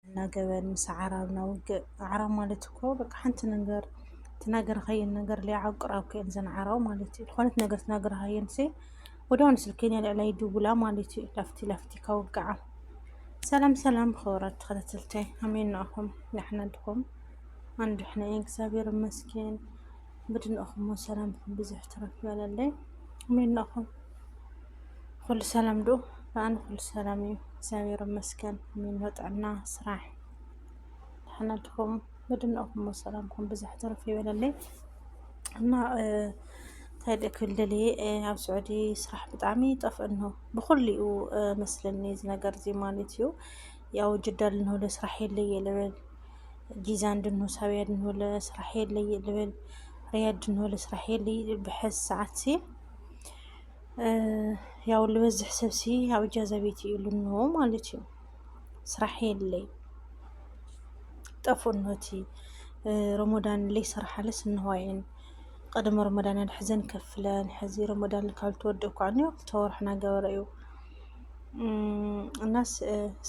እና ገበን ምስ ኣዕራብና ውግእ ኣዕራብ ማለት እኮ በቃ ሓንቲ ነገር ትናገርካየን ነገር ሊዓብ ቅራብ ከየን ዘን ዓራው ማለት እዩ ዝኾነት ነገር ትናገርካየን ሲ ወደውን ስልከኛ ልዕላይ ድውላ ማለት እዩ ላፍቲ ላፍቲ ካውግዓ ሰላም ሰላም ክብራት ተኸታተልታይ ኣሜን ንኣኹም ንሕና ድኹም ኣንዱ ሕነ እግዚኣብሔር ይመስገን ብድንእኹሞ ሰላምኩም ብዙሕ ትረፍ ይበለለይ ኣሜን ንኣኹም ኩሉ ሰላም ዶ ብኣን ኩሉ ሰላም እዩ እግዚኣብሔር ይመስገን ሚኖ ጥዕና ስራሕ ድሕነትኩም ምድነኹም ሰላምኩም ብዝሕ ትርፍ ይበለለይ እና እንታይ ደእ ክብል ደልየ ኣብ ስዑዲ ስራሕ ብጣዕሚ ይጠፍእን ነው ብኩሉ እዩ መስለኒ እዚ ነገር እዚ ማለት እዩ ያው ጅዳ ልንውለ ስራሕ የለየ ልብል ጂዛን ድንሁ ሳብያ ድንውለ ስራሕ የለየ ልብል ሪያድ ድንውለ ስራሕ የለየ ብሐዝ ሰዓት ሲ ያው ልበዝሕ ሰብሲ ኣብ እጃዛ ቤት እዩ ልንሆ ማለት እዩ ስራሕ የለይ ጠፉኖቲ ረሞዳን ለይ ስራሓለስ እንሆይን ቅድሚ ረሞዳን ኣድሕዘን ከፍለን ሕዚ ረሞዳን ካብ ተወደ እኳ ኒ ተወርሕና ገበረ እዩ እናስ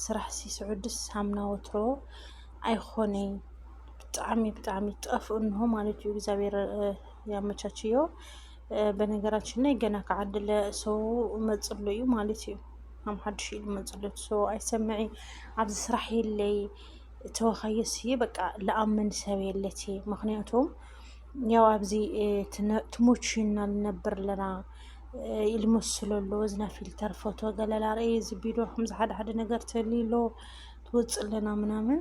ስራሕ ሲስዑድስ ሳምና ወትሮ ኣይኾነይ ብጣዕሚ ብጣዕሚ ጠፍ እንሆ ማለት እዩ እግዚኣብሔር ያመቻችዮ በነገራችን ላይ ገና ከዓድለ ሰው መፅሎ እዩ ማለት እዩ ከም ሓድሽ እዩ መፅሎ ሰው ኣይሰምዕ ኣብዚ ስራሕ የለይ ተወካየስ እየ በቃ ለኣምን ሰብ የለት ምክንያቱም ያው ኣብዚ ትሞችና ልነብር ኣለና ኢሉ መስሎ ኣሎ እዝና ፊልተር ፎቶ ገለላ ርእየ እዚ ቢዶ ከምዚ ሓደ ሓደ ነገር ተልሎ ትወፅእ ኣለና ምናምን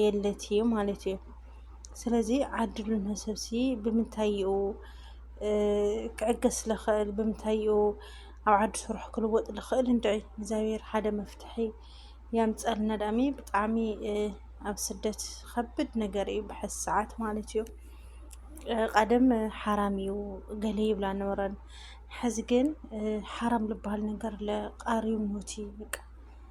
የለት እዩ ማለት እዩ። ስለዚ ዓድሉ ንሰብሲ ብምንታይኡ ክዕገስ ዝኽእል ብምንታይኡ ኣብ ዓዱ ስርሑ ክልወጥ ዝኽእል እንድዒ እግዚኣብሔር ሓደ መፍትሒ የምፀልና ዳኣሚ ብጣዕሚ ኣብ ስደት ከብድ ነገር እዩ ብሐዚ ሰዓት ማለት እዩ። ቀደም ሓራም እዩ ገለ ይብላ ነበረን። ሕዚ ግን ሓራም ዝበሃል ነገር ቃርዩ ሞት እዩ በቃ።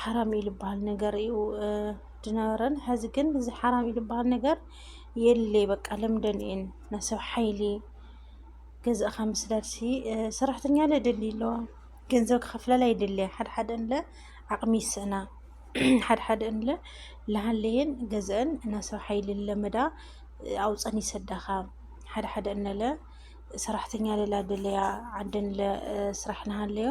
ሓራም እዩ ዝበሃል ነገር እዩ ድነበረን ሕዚ ግን እዚ ሓራም እዩ ዝበሃል ነገር የለ በቃ ለምደን እየን ናይ ሰብ ሓይሊ ገዛእኻ ምስዳድሲ ሰራሕተኛ ለ ደሊ ኣለዋ ገንዘብ ክኸፍላላ ይደለያ ሓደሓደ ንለ ዓቕሚ ይስእና ሓደሓደ ንለ ለሃለየን ገዘአን ናይ ሰብ ሓይሊ ለመዳ ኣውፀን ይሰዳኻ ሓደሓደ ንለ ሰራሕተኛ ለላ ደለያ ዓደን ለ ስራሕ ንሃለዮ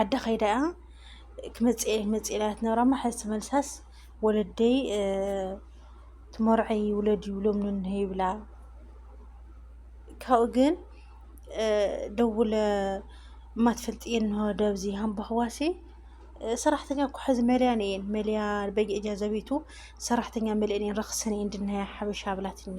ዓዲ ከይዳ እያ ክመፅእ እየ ክመፅእ እየ ኢላ ትነብራ እማ ሕዚ ተመልሳስ ወለደይ ትመርዐይ ውለድ ይብሎም ንንሀ ይብላ ካብኡ ግን ደውለ እማ ትፈልጥ እየ እንሆ ደብዚ ሃምባኽዋሲ ሰራሕተኛ እኮ ሕዚ መልያን እየን መልያ በየእጃዘ ቤቱ ሰራሕተኛ መልአን እየን ረኽሰን እየን ድናያ ሓበሻ ብላትኒ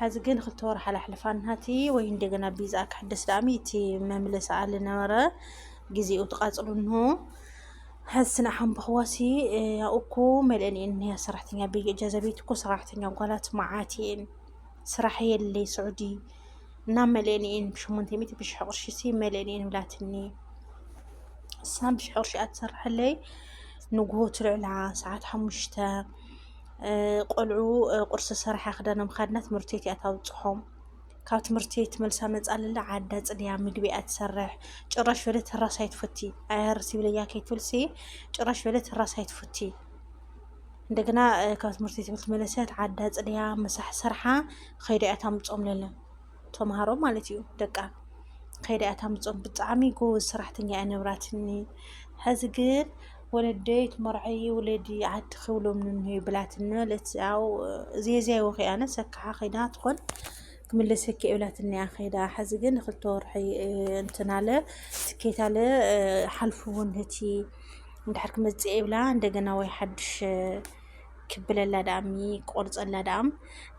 ሐዚ ግን ክልተ ወርሒ ሓላሕልፋና እቲ ወይ እንደገና ቢዝኣ ክሕደስ ዳኣሚ እቲ መምለሲ ኣለ ነበረ ጊዜኡ ትቃፅሉ እንሆ ሐዚ ስና ሓንበኽዋሲ ያው እኮ መልእን እየን እኒያ ሰራሕተኛ ብይ እጃዘ ቤት እኮ ሰራሕተኛ ጓላት መዓት እየን ስራሕ የለይ ስዑዲ እና መልእን እየን ብሸሞንተ ሚእቲ ብሽሕ ቅርሺ ሲ መልእን እየን ብላትኒ እሳ ብሽሕ ቅርሺ ኣትሰርሐለይ ንግሆ ትልዕላ ሰዓት ሓሙሽተ ቆልዑ ቁርሲ ሰራሓ ክዳና ምካድና ትምህርቲ ቤት እያ ታብፅሖም ካብ ትምህርቲ ቤት መልሳ መፃለለ ዓዳ ፅድያ ምግቢ እያ ትሰርሕ ጭራሽ በለ ተራስ ኣይትፈቲ ኣያርሲ ብለያ ከይትብልሲ ጭራሽ በለ ተራስ ኣይትፈቲ እንደገና ካብ ትምህርቲ ቤት መለሰት ዓዳ ፅድያ ምሳሕ ሰርሓ ከይዳ እያ ታምፆም ለለ ተምሃሮ ማለት እዩ ደቃ ከይዳ እያ ታምፅኦም ብጣዕሚ ጎበዝ ሰራሕተኛ እያ ነብራትኒ ሕዚ ግን ወለደይ ትመርዐይ ወለዲ ዓዲ ክብሎም ንንሄ ብላትኒ ማለት ያው ዜዝያይ ወኺ ኣነ ሰካዓ ከይዳ ትኾን ክምለሰኪ እብላትኒ እያ ከይዳ ሕዚ ግን ክልተ ወርሒ እንትን ኣለ ትኬት ኣለ ሓልፉ እውን እቲ እንድሕር ክመፅእ ይብላ እንደገና ወይ ሓድሽ ክብለላ ደኣ እሚ ቆርፀላ ደኣ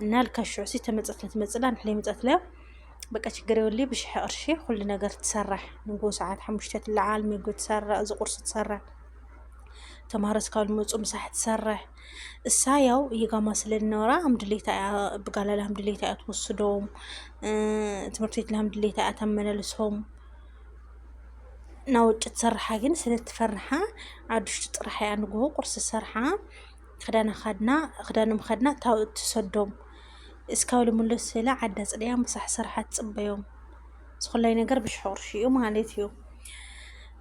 እናልካ ሽዑሲ ተመፀትለ ትመፅላ ንሕለ መፀትለ በቃ ችግር የብሉ ብሽሐ ቅርሺ ኩሉ ነገር ትሰራሕ ንጎ ሰዓት ሓሙሽተ ትለዓል ምግቢ ትሰራሕ እዚ ቁርሲ ትሰራሕ ተምሃሮ እስካብ ዝመፁ ምሳሕ ትሰራሕ እሳ ያው የጋማ ስለዝነበራ ኣምድሌታ እያ ብጋላላ ኣምድሌታ እያ ትወስዶም ትምህርቲ ቤት ልሃምድሌታ እያ ተመላልሶም ናብ ውጭ ትሰርሓ ግን ስለትፈርሓ ኣብ ድሽቱ ጥራሕ እያ ንግሆ ቁርሲ ሰርሓ ክዳና ካድና ክዳኖም ከድና ታው እትሰዶም እስካብ ልምለስ ስለ ዓዳ ፅድያ ምሳሕ ሰርሓ ትፅበዮም ዝኾላይ ነገር ብሽሕ ቁርሺ እዩ ማለት እዩ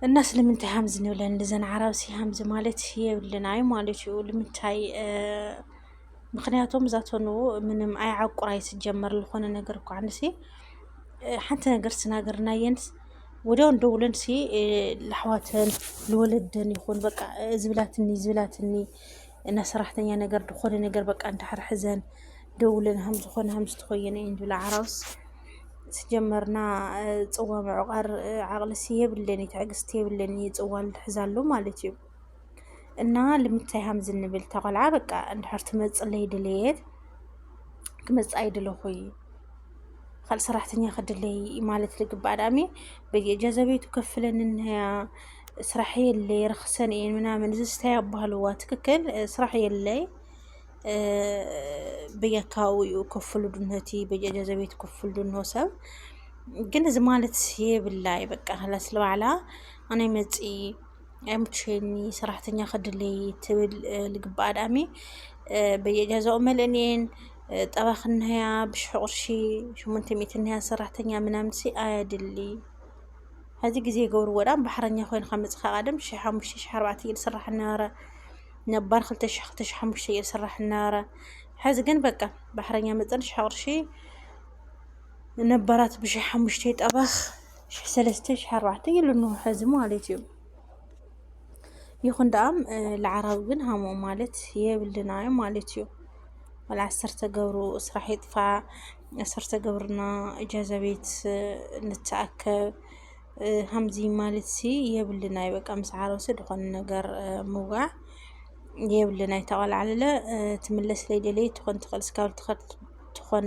እና ስለምንታይ ሃምዚ ንብለን ልዘን ዓራብሲ ሃምዚ ማለት የብልና እዩ ማለት እዩ ልምንታይ ምክንያቶም እዛ ተኑ ምንም ኣይዓቁራይ ስጀመር ዝኾነ ነገር እኳ ንሲ ሓንቲ ነገር ስናገርናየንስ ወዲያው እንደውለን ሲ ለሕዋተን ልወለደን ይኹን በቃ ዝብላትኒ ዝብላትኒ እና ሰራሕተኛ ነገር ዝኾነ ነገር በቃ እንድሕር ሕዘን ደውለን ሃም ዝኾነ ሃም ዝተኮየነ እየን ዝብላ ዓራውስ ስጀመርና ፅዋ ምዕቋር ዓቕልሲ የብለኒ ትዕግስቲ የብለኒ ፅዋ ልሕዛሉ ማለት እዩ እና ልምታይ ሃምዚ እንብል ተቆልዓ በቃ እንድሕር ትመፅለይ ድልየት ክመፅእ ኣይድለኹ እዩ ካልእ ሰራሕተኛ ክድለይ ማለት ልግባእ ዳእሚ በየእጃዘቤቱ ከፍለን እንያ ስራሕ የለይ ረኽሰን እየን ምናምን እዚ ስታይ ኣባህልዋ ትክክል ስራሕ የለይ በየካባቢኡ ክፍሉ ድነቲ በየእጃዘቤቱ ክፍሉ ድኖ ሰብ ግን እዚ ማለት የብላ በቃ ላስለባዕላ ኣነ መፂ ኣይሙችኒ ሰራሕተኛ ክድልይ ትብል ልግብኣ ዳኣሚ በየጃዛኡ መልእን እየን ጠባ ክንያ ብሽሕ ቁርሺ ሽሙንተ ሚእቲ ንያ ሰራሕተኛ ምናምን ሲ ኣየድሊ ሕዚ ግዜ ገብርዎ ዳኣ ባሕረኛ ኮይንካ መፅካ ቀደም ሽሕ ሓሙሽተ ሽሕ ኣርባዕተ እየ ዝስራሕ እናበረ ነባር ክልተ ሽሕ ክልተ ሽሕ ሓሙሽተ እየ ዝስራሕ እናበረ ሕዚ ግን በቃ ባሕረኛ መፀን ሽሕ ቁርሺ ነባራት ብሽሕ ሓሙሽተ ጠባኽ ሽሕ ሰለስተ ሽሕ ኣርባዕተ ኢሉ እንሆ ሕዚ ማለት እዩ ይኹን ደኣም ለዓራዊ ግን ሃሞ ማለት የብልና እዩ ማለት እዩ ወላ ዓሰርተ ገብሩ ስራሕ ይጥፋእ ዓሰርተ ገብርና እጃዛ ቤት ንተኣከብ ሃምዚ ማለት ሲ የብልና እዩ በቃ ምስ ዓረብሲ ዝኾነ ነገር ምውጋዕ የብልና እዩ ተቐላዕልለ ትምለስ ለይደለይ ትኾን ትኽእል ስካብ ትኸል ትኾን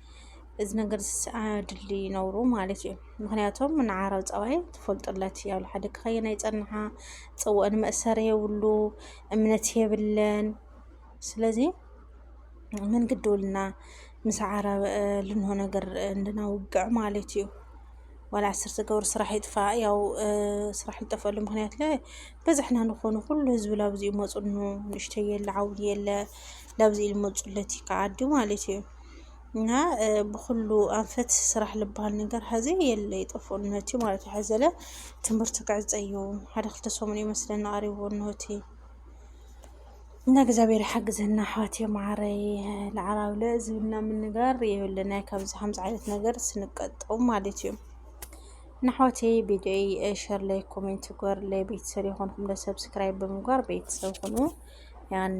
እዚ ነገር ኣድሊ ይነብሩ ማለት እዩ ምክንያቶም ንዓረብ ፀባይ ትፈልጡለት ያሉ ሓደ ክኸየና ይፀንሓ ፅወን መእሰር የብሉ እምነት የብለን ስለዚ ምን ግድውልና ምስ ዓረብ ልንሆ ነገር እንድናውግዕ ማለት እዩ ዋላ ዓሰርተ ገብር ስራሕ ይጥፋ ያው ስራሕ ዝጠፈሉ ምክንያት ለ በዝሕና ንኾኑ ኩሉ ህዝቢ ላብዚ ይመፁኑ ንእሽተይ የለ ዓብይ የለ ላብዚ ይመፁለት ይከዓዲ ማለት እዩ እና ብኩሉ ኣንፈት ስራሕ ልበሃል ነገር ሀዚ የለ ይጠፍኦ እነሆቲ ማለት እዩ ሐዘለ ትምህርቲ ክዕፀ እዩ ሓደ ክልተ ሰሙን እዩ መስለና ኣሪቡ እነሆቲ እና እግዚኣብሔር ይሓግዘና ኣሕዋትየ ማዓረይ ንዓራብለ ዝብና ምንጋር የብልና ካብዚ ከምዚ ዓይነት ነገር ስንቀጠው ማለት እዩ እና ኣሕዋትየ ቪዲዮይ ሸር ላይ ኮሜንት ጎር ላይ ቤተሰብ የኾንኩም ለሰብስክራይብ ብምግባር ቤተሰብ ኹኑ ያኔ